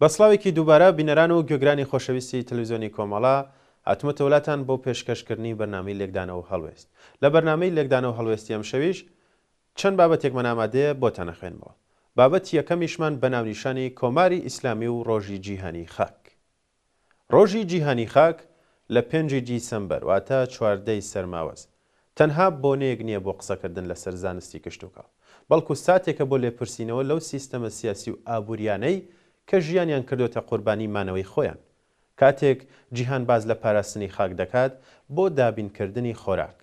بە سڵاوێکی دووبارە بینەران و گوێگرانی خۆشەویستی تەلویزیۆنی کۆمەڵە، هاتمەتە وڵاتان بۆ پێشکەشکردنی بەرنامەی لێکدانە و هەڵوێست. لە بەرنامەی لێکدانە و هەڵوێستی ئەمشەویش چەند بابەتێکمان ئامادەیە بۆتان ئەخوێنمەوە. بابەتی یەکەمیشمان بە ناونیشانی کۆماری ئیسلامی و ڕۆژی جیهانی خاک. ڕۆژی جیهانی خاک لە پێنج ی دیسەمبەر واتە چواردە ی سەرماوەز تەنها بۆنەیەک نییە بۆ قسەکردن لەسەر زانستی کشتوکاڵ، بەڵکو ساتێکە بۆ لێپرسینەوە لەو سیستەمە سیاسی و ئابوورییانەی کە ژیانیان کردۆتە قوربانی مانەوەی خۆیان. کاتێک جیهان باس لە پاراستنی خاک دەکات بۆ دابینکردنی خۆراک،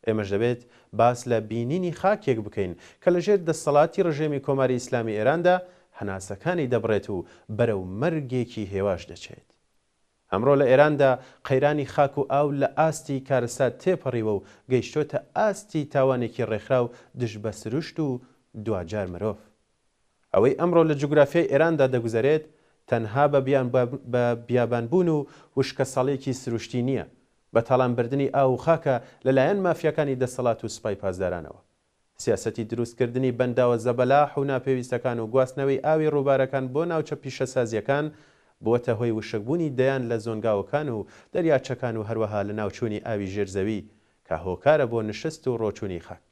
ئێمەش دەبێت باس لە بینینی خاکێک بکەین کە لە ژێر دەستەڵاتی ڕژێمی کۆماری ئیسلامی ئێراندا هەناسەکانی دەبڕێت و بەرەو مەرگێکی هێواش دەچێت. ئەمڕۆ لە ئێراندا قەیرانی خاک و ئاو لە ئاستی کارەسا تێپەڕیوە و گەیشتۆتە ئاستی تاوانێکی ڕێکخراو دژ بە سروشت و دواجار مرۆڤ. ئەوەی ئەمڕۆ لە جوگرافیای ئێراندا دەگوزەرێت تەنها بە بە بیابانبوون و وشکەساڵیەکی سروشتی نییە، بە تاڵانبردنی ئاو و خاکە لە لایەن مافیاکانی دەسەڵات و سوپای پاسدارانەوە. سیاسەتی دروستکردنی بەنداوە زەبەلاح و ناپێویستەکان و گواستنەوەی ئاوی ڕووبارەکان بۆ ناوچە پیشەسازییەکان بووەتە هۆی وشکبوونی دەیان لە زۆنگاوەکان و دەریاچەکان و هەروەها لەناوچوونی ئاوی ژێرزەوی کە هۆکارە بۆ نشست و ڕۆچوونی خاک.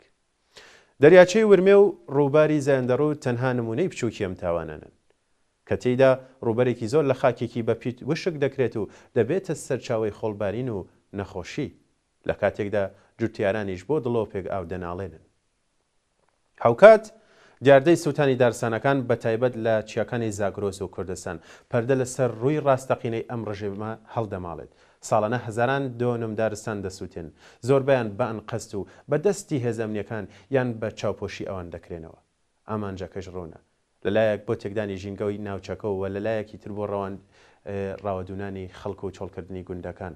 دەریاچەی ورمێ و ڕووباری زایندەڕوو تەنها نموونەی بچووکی ئەم تاوانانەن، کە تێیدا ڕووبەرێکی زۆر لە خاکێکی بەپیت وشک دەکرێت و دەبێتە سەرچاوەی خۆڵبارین و نەخۆشی، لە کاتێکدا جوتیارانیش بۆ دڵۆپێک ئاو دەناڵێنن. هاوکات دیاردەی سووتانی دارستانەکان بە تایبەت لە چیاکانی زاگرۆس و کوردستان، پەردە لەسەر ڕووی ڕاستەقینەی ئەم ڕژێمە هەڵدەماڵێت، ساڵانە هەزاران دۆنم دارستان دەسووتێن، زۆربەیان بە ئەنقەست و بە دەستی هێزە ئەمنییەکان یان بە چاوپۆشی ئەوان دەکرێنەوە. ئامانجەکەش ڕوونە، لە لایەک بۆ تێکدانی ژینگەی ناوچەکە و لە لایەکی تر بۆ ڕاوەدوونانی خەڵک و چۆڵکردنی گوندەکان.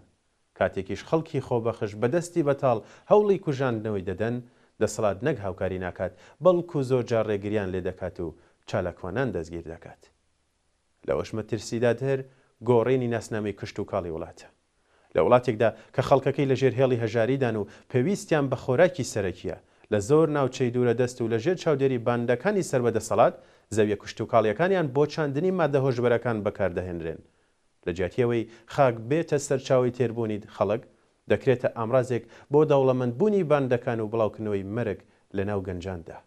کاتێکیش خەڵکی خۆبەخش بە دەستی بەتاڵ هەوڵی کوژاندنەوەی دەدەن، دەسەڵات نەک هاوکاری ناکات، بەڵکو زۆرجار ڕێگرییان لێ دەکات و چالاکوانان دەستگیر دەکات. لەوەش مەترسیدادهر گۆڕینی ناسنامەی کشتوکاڵی وڵاتە. لە وڵاتێکدا کە خەڵکەکەی لەژێر هێڵی هەژاریدان و پێویستیان بە خۆراکی سەرەکییە، لە زۆر ناوچەی دوورەدەست و لەژێر چاودێری باندەکانی سەر بە دەسەڵات، زەوییە کشتوکاڵییەکانیان بۆ چاندنی ماددە هۆشبەرەکان بەکاردەهێنرێن. لە جیاتی ئەوەی خاک بێتە سەرچاوەی تێربوونی خەڵک، دەکرێتە ئامرازێک بۆ دەوڵەمەندبوونی باندەکان و بڵاوکردنەوەی مەرگ لەناو گەنجاندا.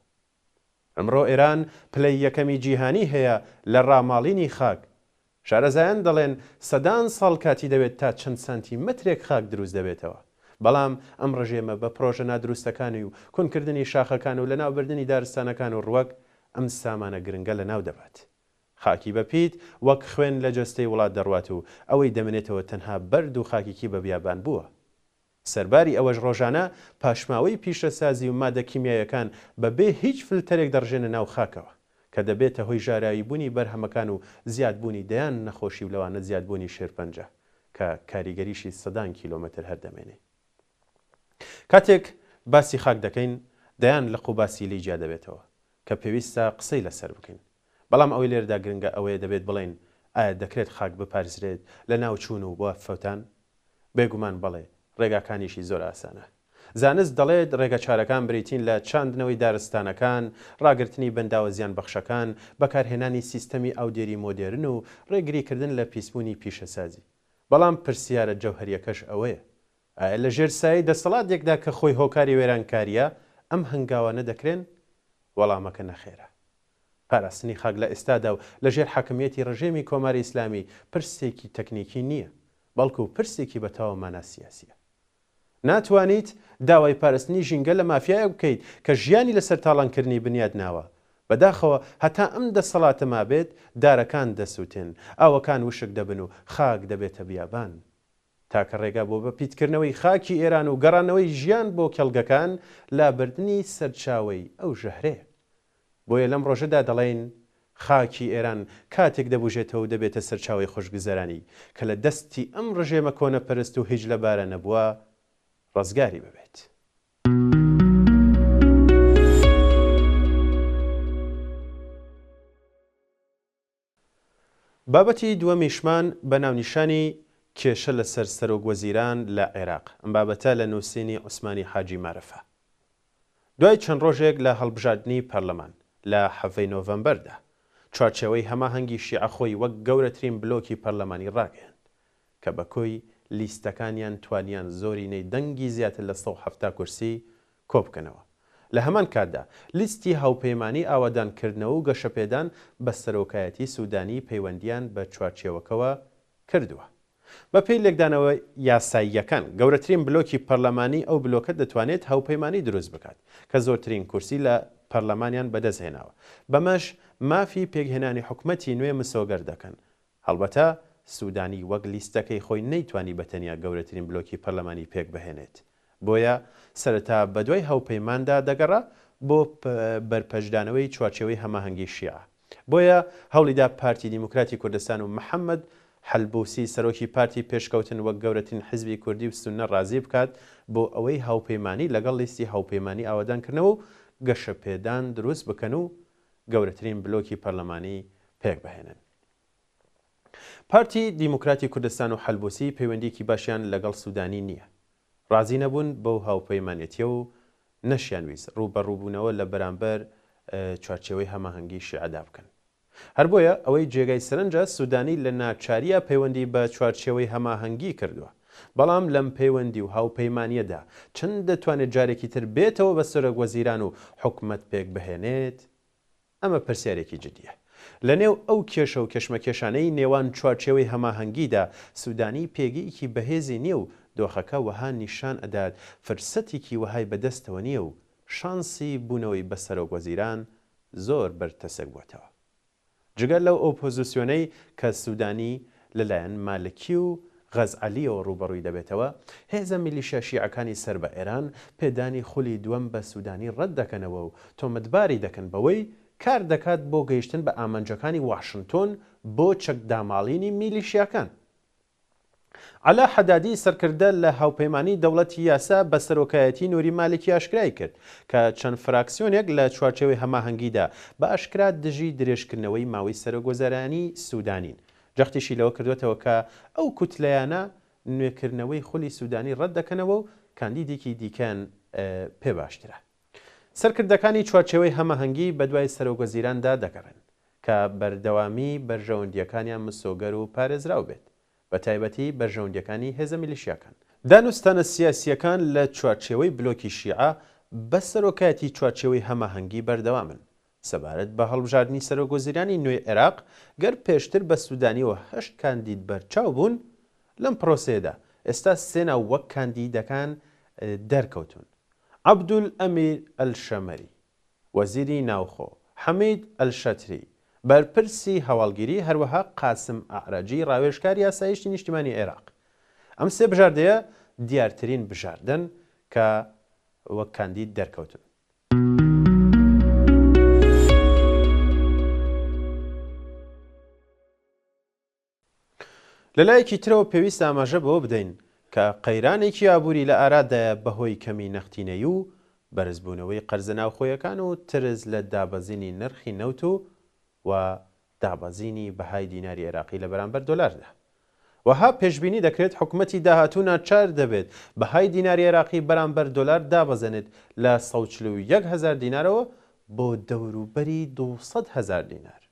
ئەمڕۆ ئێران پلەی یەکەمی جیهانی هەیە لە ڕاماڵینی خاک. شارەزایان دەڵێن سەدان ساڵ کاتی دەوێت تا چەند سانتی مەترێک خاک دروست دەبێتەوە. بەڵام ئەم ڕژێمە بە پرۆژە نادروستەکانی و کونکردنی شاخەکان و لەناوبردنی دارستانەکان و ڕوەک ئەم سامانە گرنگە لەناو دەبات. خاکی بە پیت وەک خوێن لە جەستەی وڵات دەڕوات و ئەوەی دەمێنێتەوە تەنها بەرد و خاکیکی بە بیابان بووە. سەرباری ئەوەش ڕۆژانە پاشماوەی پیشەسازی و مادە کیمیایەکان بە بێ هیچ فلتەرێک دەڕژێنە ناو خاکەوە، کە دەبێتە هۆی ژاراوی بوونی بەرهەمەکان و زیاد بوونی دەیان نەخۆشی و لەوانە زیاد بوونی شێرپەنجە کە کاریگەریشی سەدان کیلۆمەتر هەر دەمێنێی. کاتێک باسی خاک دەکەین دەیان لق و باسی لی جیا دەبێتەوە کە پێویستە قسەی لەسەر بکەین. بەڵام ئەوەی لێرەدا گرنگە ئەوەیە دەبێت بڵێین ئایا دەکرێت خاک بپارێزرێت لە ناوچوون و وەفەوتان؟ بێگومان بەڵێ، ڕێگاکانیشی زۆر ئاسانە. زانست دەڵێت ڕێگەچارەکان بریتین لە چاندنەوەی دارستانەکان، ڕاگرتنی بەنداوە زیانبەخشەکان، بەکارهێنانی سیستەمی ئاودێری مۆدێرن و ڕێگریکردن لە پیسبوونی پیشەسازی. بەڵام پرسیارە جەوهەرییەکەش ئەوەیە، ئایا لە ژێر سایەی دەسەڵاتێکدا کە خۆی هۆکاری وێرانکارییە، ئەم هەنگاوانە دەکرێن؟ وەڵامەکە نەخێرە. پاراستنی خاک لە ئێستادا و لە ژێر حاکمییەتی ڕژێمی کۆماری ئیسلامی پرسێکی تەکنیکی نییە، بەڵکو پرسێکی بە تەواو مانا سیاسییە. ناتوانیت داوای پاراستنی ژینگە لە مافیایەک بکەیت کە ژیانی لەسەر تاڵانکردنی بنیات ناوە. بەداخەوە هەتا ئەم دەسەڵاتە مابێت، دارەکان دەسووتێن، ئاوەکان وشک دەبن و خاک دەبێتە بیابان. تاکە ڕێگا بۆ بە پیتکردنەوەی خاکی ئێران و گەڕانەوەی ژیان بۆ کێڵگەکان لابردنی سەرچاوەی ئەو ژەهرەیە. بۆیە لەم ڕۆژەدا دەڵێین، خاکی ئێران کاتێک دەبوژێتەوەو دەبێتە سەرچاوەی خۆشگوزەرانی کە لە دەستی ئەم ڕژێمە کۆنەپەرست و هیچلەبارە نەبووە ڕزگاری ببێت. بابەتی دووەمیشمان بە ناونیشانی، کێشە لەسەر سەرۆک وەزیران لە عێراق، ئەم بابەتە لە نووسینی عوسمانی حاجی مارفە. دوای چەند ڕۆژێک لە هەڵبژاردنی پەرلەمان، لە حەڤەی نۆڤەمبەردا، چوارچێوەی هەماهەنگی شیعە خۆی وەک گەورەترین بلۆکی پەرلەمانی ڕاگەیاند، کە بە کۆی لیستەکانیان توانیان زۆرینەی دەنگی زیاتر لە سەد و حەفتا کورسی کۆبکەنەوە. لە هەمان کاتدا، لیستی هاوپەیمانیی ئاوەدانکردنەوە و گەشەپێدان بە سەرۆکایەتیی سوودانی پەیوەندییان بە چوارچێوەکەوە کردووە. بەپێی لێکدانەوە یاساییەکان، گەورەترین بلۆکی پەرلەمانی ئەو بلۆکە دەتوانێت هاوپەیمانی دروست بکات، کە زۆرترین کورسی لە پەرلەمانیان بەدەست هێناوە، بەمەش مافی پێکهێنانی حکومەتی نوێ مسۆگەر دەکەن هەڵبەتە سودانی وەک لیستەکەی خۆی نەیتوانی بە تەنیا گەورەترین بلۆکی پەرلەمانی پێکبهێنێت، بۆیە سەرەتا بەدوای هەوپەیماندا دەگەڕا بۆ بەرپەرچدانەوەی چوارچێوەی هەماهەنگی شیعە، بۆیە هەوڵیدا پارتی دیموکراتی کوردستان و محەمەد حەلبوسی سەرۆکی پارتی پێشکەوتن وەک گەورەترین حزبی کوردی و سوننە ڕازی بکات بۆ ئەوەی هاوپەیمانی لەگەڵ لیستی هاوپەیمانی ئاوەدانکردنەوە و گەشەپێدان دروست بکەن و گەورەترین بلۆکی پەرلەمانی پێکبهێنن. پارتی دیموکراتی کوردستان و حەلبوسی پەیوەندیەکی باشیان لەگەڵ سودانی نیە. ڕازی نەبوون بەو هاوپەیمانێتیە و نەشیان ویست ڕووبەڕووبوونەوە لە بەرامبەر چوارچێوەی هەماهەنگی شیعەدا بکەن. هەر بۆیە ئەوەی جێگای سەرنجە سودانی لە ناچاریە پەیوەندی بە چوارچێوەی هەماهەنگی کردووە. بەڵام لەم پەیوەندی و هاوپەیمانیەدا چەند دەتوانێت جارێکی تر بێتەوە بە سەرۆک وەزیران و حکومەت پێکبهێنێت؟ ئەمە پرسیارێکی جدییە. لە نێو ئەو کێشە و کێشمەکێشانەی نێوان چوارچێوەی هەماهەنگیدا، سوودانی پێگەیەکی بەهێزی نییە و دۆخەکە وەها نیشان ئەدات فرسەتێکی وەهای بە دەستەوە نییە و شانسی بوونەوەی بە سەرۆک وەزیران زۆر بەرتەسک بووەتەوە جگە لەو ئۆپۆزسیۆنەی کە سوودانی لەلایەن مالکی و غەزعەلییەوە ڕووبەڕووی دەبێتەوە، هێزە میلیشیا شیعەکانی سەر بە ئێران پێدانی خولی دووەم بە سوودانی ڕەت دەکەنەوە و تۆمەتباری دەکەن بەوەی کار دەکات بۆ گەیشتن بە ئامانجەکانی واشنتۆن بۆ چەک داماڵینی میلیشیاکان. عەلا حەدادی سەرکردە لە هاوپەیمانیی دەوڵەتی یاسا بە سەرۆکایەتیی نووری مالکی ئاشکرای کرد کە چەند فراکسیۆنێک لە چوارچێوەی هەماهەنگیدا بە ئاشکرا دژی درێژکردنەوەی ماوەی سەرۆکوەزارانی سوودانین. جەختیشی لەوە کردووەتەوە کە ئەو کوتلەیانە نوێکردنەوەی خولی سوودانی ڕەت دەکەنەوە و کاندیدێکی دیکەیان پێ باشترە. سەرکردەکانی چوارچێوەی هەماهەنگی بەدوای سەرۆکوەزیراندا دەگەڕێن، کە بەردەوامیی بەرژەوەندییەکانیان مسۆگەر و پارێزراو بێت، بەتایبەتی بەرژەوەندییەکانی هێزە میلیشیاکان. دانوستانە سیاسییەکان لە چوارچێوەی بلۆکی شیعە بە سەرۆکایەتی چوارچێوەی هەماهەنگی بەردەوامن، سەبارەت بە هەڵبژاردنی سەرۆکوەزیرانی نوێی عێراق، گەر پێشتر بە سوودانیەوە هەشت کاندید بەرچاو بوون لەم پرۆسەیەدا، ئێستا سێ ناو وەک کاندیدەکان دەرکەوتوون، عەبدولئەمیر ئەلشەمەری، وەزیری ناوخۆ، حەمید ئەلشەتری، بەرپرسی هەواڵگیری، هەروەها قاسم ئەعرەجی، ڕاوێژکاری ئاسایشتی نیشتیمانی عێراق. ئەم سێ بژاردەیە دیارترین بژاردەن کە وەک کاندید دەرکەوتوون. لەلایەکی ترەوە پێویستە ئاماژە بەوە بدەین کە قەیرانێکی ئابووری لە ئارادایە بەهۆی کەمی نەختینەیی و بەرزبوونەوەی قەرزە ناوخۆیەکان و ترس لە دابەزینی نرخی نەوت و و دابەزینی بەهای دیناری عێراقی لە بەرامبەر دۆلاردا. وەها پێشبینی دەکرێت حکومەتی داهاتوو ناچار دەبێت بەهای دیناری عێراقی بەرامبەر دۆلار دابەزێنێت لە سەد و چل و یەک هەزار دینارەوە بۆ دەوروبەری دوو سەد هەزار دینار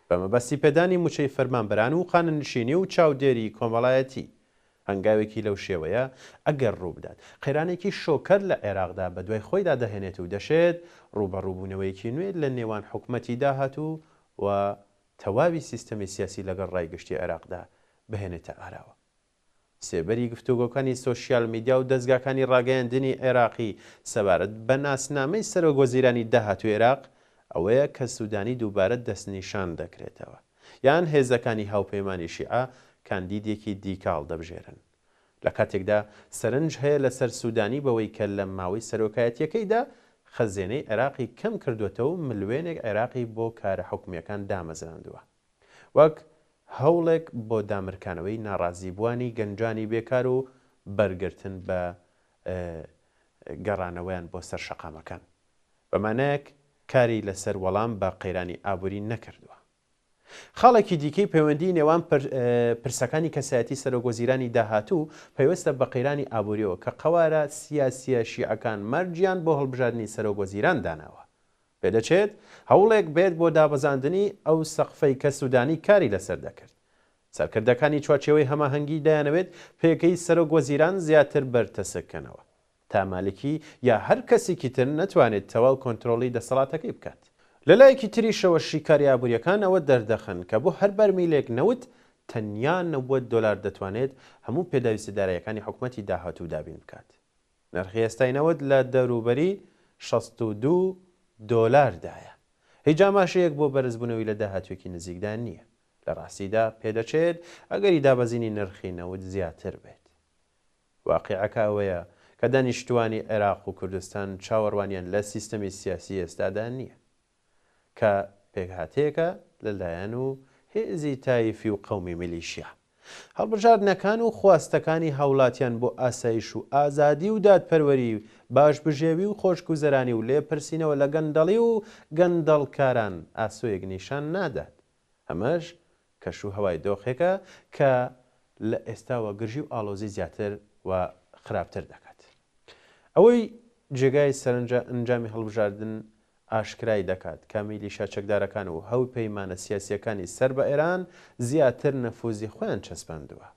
بە مەبەستی پێدانی مووچەی فەرمانبەران و خانەنشینی و چاودێری کۆمەڵایەتی هەنگاوێکی لەو شێوەیە ئەگەر ڕووبدات، قەیرانێکی شۆککەر لە عێراقدا بەدوای خۆیدا دەهێنێت و دەشێت ڕووبەڕووبوونەوەیەکی نوێ لە نێوان حکومەتی داهاتوو و تەواوی سیستەمی سیاسی لەگەڵ ڕای گشتی عێراقدا بهێنێتە ئاراوە. سێبەری گفتوگۆکانی سۆشیال میدیا و دەزگاکانی ڕاگەیاندنی عێراقی سەبارەت بە ناسنامەی سەرۆکوەزیرانی داهاتووی عێراق ئەوەیە کە سوودانی دووبارە دەستنیشان دەکرێتەوە. یان هێزەکانی هاوپەیمانی شیعە کاندیدێکی دیکە هەڵدەبژێرن. لە کاتێکدا سەرنج هەیە لەسەر سوودانی بەوەی کە لە ماوەی سەرۆکایەتییەکەیدا خەزێنەی عێراقی کەم کردووەتەوە و ملوێنێک عێراقی بۆ کارە حکومییەکان دامەزراندووە وەک هەوڵێک بۆ دامرکانەوەی ناڕازیبووانی گەنجانی بێکار و بەرگرتن بە گەڕانەوەیان بۆ سەر شەقامەکان. بە مانایەک کاری لەسەر وەڵام بە قەیرانی ئابووری نەکردووە. خاڵێکی دیکەی پەیوەندیی نێوان پرسەکانی کەسایەتی سەرۆکوەزیرانی داهاتوو پەیوەستە بە قەیرانی ئابوورییەوە کە قەوارە سیاسییە شیعەکان مەرجیان بۆ هەڵبژاردنی سەرۆکوەزیران داناوە. پێدەچێت هەوڵێک بێت بۆ دابەزاندنی ئەو سەقفەی کە سوودانی کاری لەسەر دەکرد. سەرکردەکانی چوارچێوەی هەماهەنگی دەیانەوێت پێگەی سەرۆکوەزیران زیاتر بەرتەسککەنەوە. تا مالکی یا هەر کەسیکی تر نەتوانێت تەواو کۆنترۆڵی دەسەڵاتەکەی بکات. لە لایەکی تریشەوە شیکاری ئابووریەکان ئەوە دەردەخەن کە بۆ هەر بەرمیلێک نەوت تەنیا نەوەد دۆلار دەتوانێت هەموو پێداویستە دارایەکانی حکومەتی داهاتوو دابین بکات. نرخی ئێستای نەوت لە دەوروبەری شەست و دوو دۆلاردایە. هیچ ئاماژەیەک بۆ بەرزبوونەوی لە داهاتووێکی نزیکدا نییە. لە راستیدا پێدەچێت ئەگەری دابەزینی نرخی نەوت زیاتر بێت. واقیعەکە ئەوەیە کە دانیشتووانی عێراق و کوردستان چاوەڕوانیان لە سیستەمی سیاسی ئێستادا نییە، کە پێکهاتەیەکە لە لایەن و هێزی تایفی و قەومی میلیشیا. هەڵبژاردنەکان و خواستەکانی هاوڵاتیان بۆ ئاسایش و ئازادی و دادپەروەری، باش بژێوی و خۆشگوزەرانی و لێپرسینەوە لە گەندەڵی و گەندەڵکاران ئاسۆیەک نیشان نادات ئەمەش کەش و هەوای دۆخێکە کە لە ئێستاوە گرژی و ئاڵۆزی زیاتر و خراپتر دەکات. ئەوەی جێگای سەرنجە ئەنجامی هەڵبژاردن ئاشکرای دەکات کە میلیشا چەکدارەکان و هەوپەیمانە سیاسییەکانی سەر بە ئێران زیاتر نەفوزی خۆیان چەسپاندووە.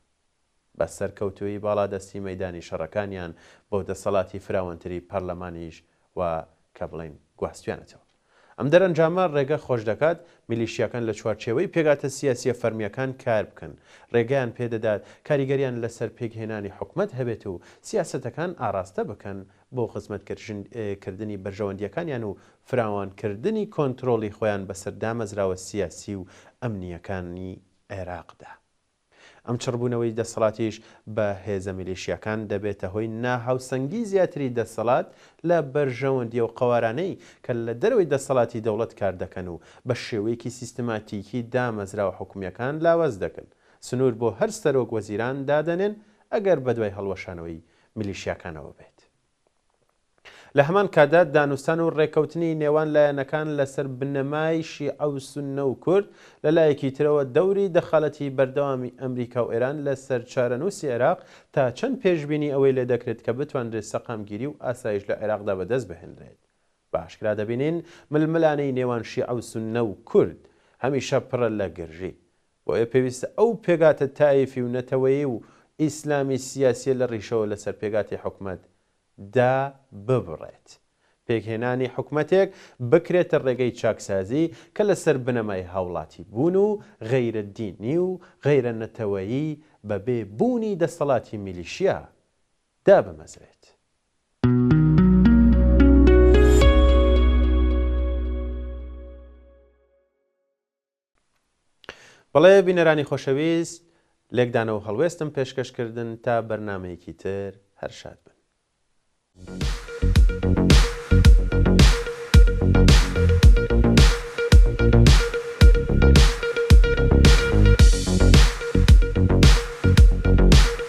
بە سەرکەوتوویی باڵادەستی مەیدانی شەڕەکانیان بۆ دەسەڵاتی فراوانتری پەرلەمانیش وا کە بڵێین گواستویانەتەوە. ئەم دەرئەنجامە ڕێگە خۆشدەکات میلیشیاکان لە چوارچێوەی پێگاتە سیاسییە فەرمییەکان کار بکەن، ڕێگەیان پێدەدات کاریگەریان لەسەر پێکهێنانی حکومەت هەبێت و سیاسەتەکان ئاڕاستە بکەن بۆ خزمەتکردنی بەرژەوەندییەکانیان و فراوانکردنی کۆنترۆڵی خۆیان بەسەر دامەزراوە سیاسی و ئەمنییەکانی عێراقدا. ئەم چڕبوونەوەی دەسەڵاتیش بە هێزە میلیشیاکان دەبێتە هۆی ناهاوسەنگی زیاتری دەسەڵات لە بەرژەوەندیە و قەوارانەی کە لە دەرەوەی دەسەڵاتی دەوڵەت کار دەکەن و بە شێوەیەکی سیستماتیکی دامەزراوە حکومیەکان لاواز دەکەن سنور بۆ هەر سەرۆک وەزیران دادەنێن ئەگەر بەدوای هەڵوەشانەوەی میلیشیاکانەوە بێت. لە هەمان کاتدا دانوستان و ڕێکەوتنی نێوان لایەنەکان لەسەر بنەمای شیعە و سوننە و کورد، لە لایەکی ترەوە دەوری دەخالەتی بەردەوامی ئەمریکا و ئێران لەسەر چارەنووسی عێراق تا چەند پێشبینی ئەوەی لێ دەکرێت کە بتوانرێت سەقامگیری و ئاسایش لە عێراقدا بەدەست بهێنرێت بە ئاشکرا دەبینین ململانێی نێوان شیعە و سوننە و کورد هەمیشە پڕە لە گرژی بۆیە پێویستە ئەو پێگاتە تایفی و نەتەوەیی و ئیسلامی سیاسیە لە ڕیشەوە لەسەر پێگاتی حکومەت دا ببڕێت. پێکهێنانی حکومەتێک بکرێتە ڕێگەی چاکسازی کە لەسەر بنەمای هاوڵاتی بوون و غەیرە دینی و غەیرە نەتەوەیی بە بێ بوونی دەستەڵاتی میلیشیا دابمەزرێت. بەڵێ بینەرانی خۆشەویست لێکدانەوەو هەڵوێستم پێشکەش کردن تا بەرنامەیەکی تر هەر شاد بن.